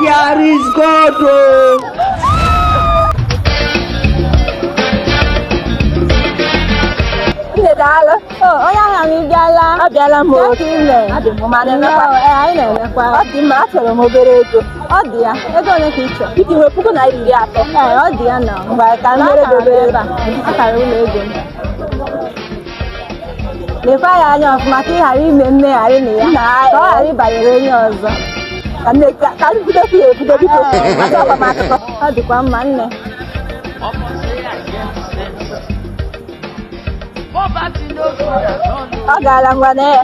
There is God. daalụ onye ahịa anyị bịala abịala m otu ile adị m mma anyị na-emekwa ọ dị mma achọrọ m obere ego ọ dị ya ego ole ka ị chọrọ iji nwee puku naira iri atọ ee ọ dị ya na mgbe ka m mere obere ebe a akara ụlọ ego m lekwa ya anya ọfụma ka ị ghara ime mmegharị na ya ka ọ ghara ịbanyere onye ọzọ ka nne ka- ka m bidokwu ya ebido biko maka agbamakwụkwọ ọ dịkwa mma nne Poverty no good at all. ọ gaala ngwa na ya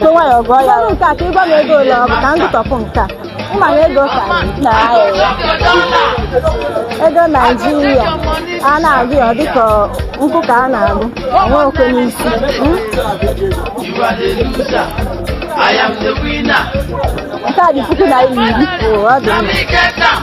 Were nwayọọ gụọ ya. Gụọ nke a ka ị gwa m ego ole ọ bụ ka m gụtọpụ nke a. Ị ma na ego ka na ahịa. Ego Naijiria a na-agụ ya dịka nkwụ ka a na-agụ. Onwe okwe n'isi. Hmm? You are the loser. I am the winner. Nke a dị puku naira iri. Oo, ọ dị mma. Let me get down.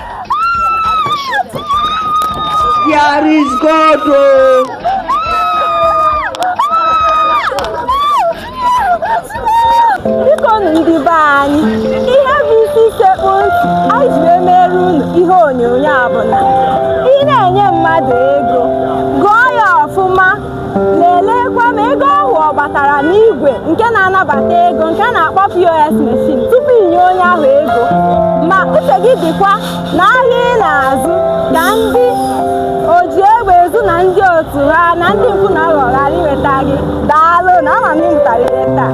There is God. Oh. ndị be anyị ihe bụ isi sekpu ntị anyị ji emere unu ihe onyonyo a bụ na ị na-enye mmadụ ego Leleekwa ma ego ahụ ọ batara n'igwe nke na-anabata ego nke a na-akpọ POS machine tupu i nye onye ahụ ego. Ma uche gị dịkwa n'ahịa ị na-azụ ka ndị oji egbe ezu na ndị otu ha na ndị mpụ na aghụghọ ghara inweta gị. Daalụ na ama m na ị mụtara ihe taa.